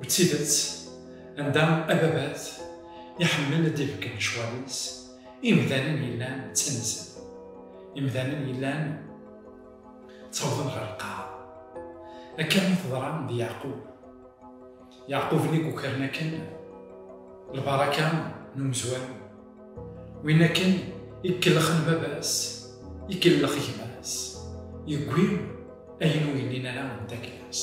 D tidet, anda ababat iḥemmel ad d-ibeggen lecɣal-is, imdanen yellan ttanzen. Imdanen yellan ttawḍen ɣer lqaɛa. Akka i teḍra d Yeɛqub. Yeɛqub nnig ukren akken lbaraka n umezwaru. Win akken ikellxen baba-s, ikellx gma-s, yewwi ayen ur yelli ara d takla-s.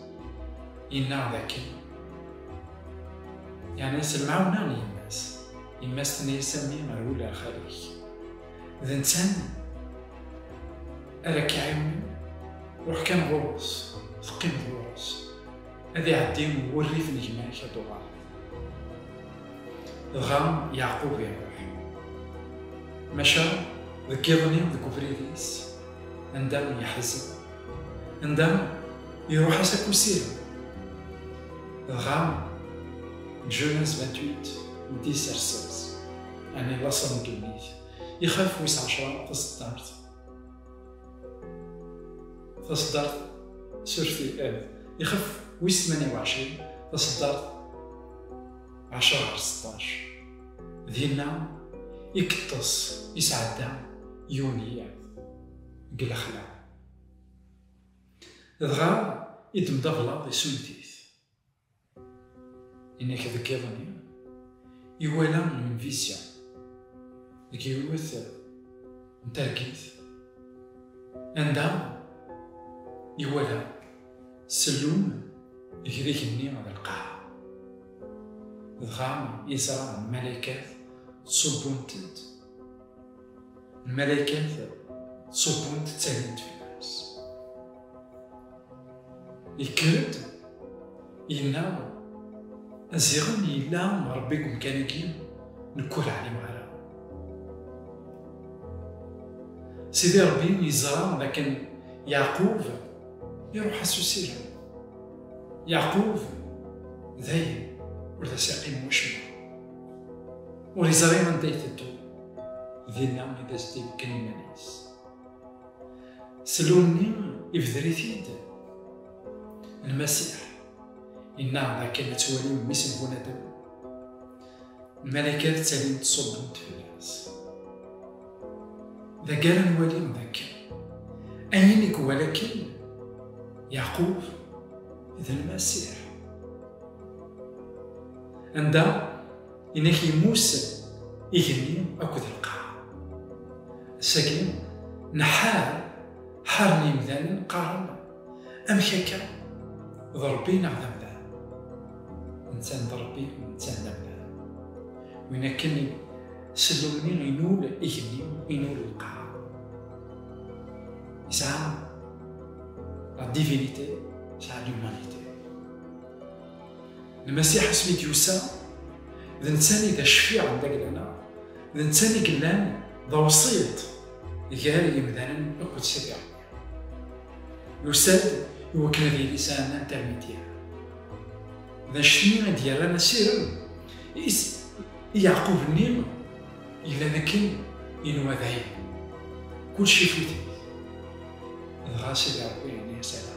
Yennaɣ dakken yerna s lemɛawna n yemma-s. Yemma-s tenna-yas a mmi rwel ar xali-k. D netta ara k-iɛiwnen, ruḥ kan ɣur-s, teqqimeḍ ɣur-s. Ad iɛeddi wurrif n gma-k ad d-tuɣaleḍ. Dɣa Yeɛqub iruḥ. Maca deg yiḍ-nni deg ubrid-is, anda yeḥzen, Anda iruḥ-as akk usirem. Dɣa Jonas Batut n Tisersers, ɛni laṣel n ddunit, ixaf wis ɛecra taseddart. Taseddart surti ad ixaf wis tmanya uɛecrin taseddart ɛecra ɣer seṭṭac. Dinna i yeṭṭes, yesɛedda yiwen n yiḍ. deg lexla. Dɣa idem d ablaḍ isunt-it. Inek deg iḍ-nni, iwala une vision deg yiwet n targit anda iwala sellun igrig-nni d lqaɛa. Dɣa yeẓra lmalaykat ttṣubbunt-d Lmalaykat ṣubbunt ttalint fell-as. Yekker-d, yenna, Ziɣen yella Ṛebbi deg umkan-agi, nekk ur ɛlimeɣ ara. Sidi Ṛebbi yeẓra dakken Yeɛqub iṛuḥ-as usirem. Yeɛqub dayen ur d as-iqqim wacemma. Ur yeẓri anda ay teddu, dinna i d as-d-ibeggen iman-is. Slum-nni ibder-it-id Lmasiḥ, yenna-aɣ-d akken ad twalim mmi-s n bunadem, lmalakat ttalint ṣubbent fell-as. D agar ad nwalim d akken ayen i iwala akken Yaqub d Lmasiḥ. anda inak yemmus igenni akked lqaɛ sagi nḥar ḥaren yimdanen qqaren amek akka d rebbi neɣ d amdan ntan d rebbi ntan d amdan win akken sellumni inul igenni inul lqaɛ yesɛa la divinité yesɛa l'humanité Lmasiḥ asmi d-yusa, d nettani d acfiɛ n lagla-nneɣ, d nettani yellan d awṣiṭ gar yemdanen akked Sidi Ṛebbi. Yusa-d i wakken ad yili sɛan intermédiaire. D anect-nni i d-yerran asirem is i Yeɛqub-nni yellan akken yenwa dayen kulci ifut-it. Dɣa Sidi Ṛebbi yenna-yas ala.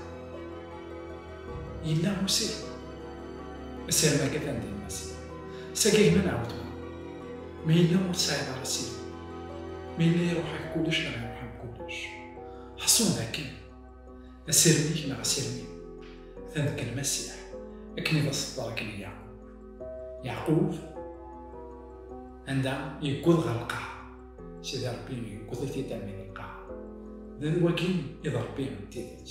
Yella usif. Asirem akka tan din mas. Sagi gma nɛawd. Ma yella ur tesɛiḍ ara sif. Ma yella iruḥ-ak kullec neɣ iruḥ-am kullec. Ḥṣun dakken. Asirem-ik neɣ asirem-iw. Ta deg lmasiḥ. Akken i d aṣeddar akken i Yeɛqub. Yeɛqub anda yewweḍ ɣer lqaɛa. Sidi Rebbi yewweḍ-it-id armi d lqaɛa. D wagi i d Rebbi n tidet.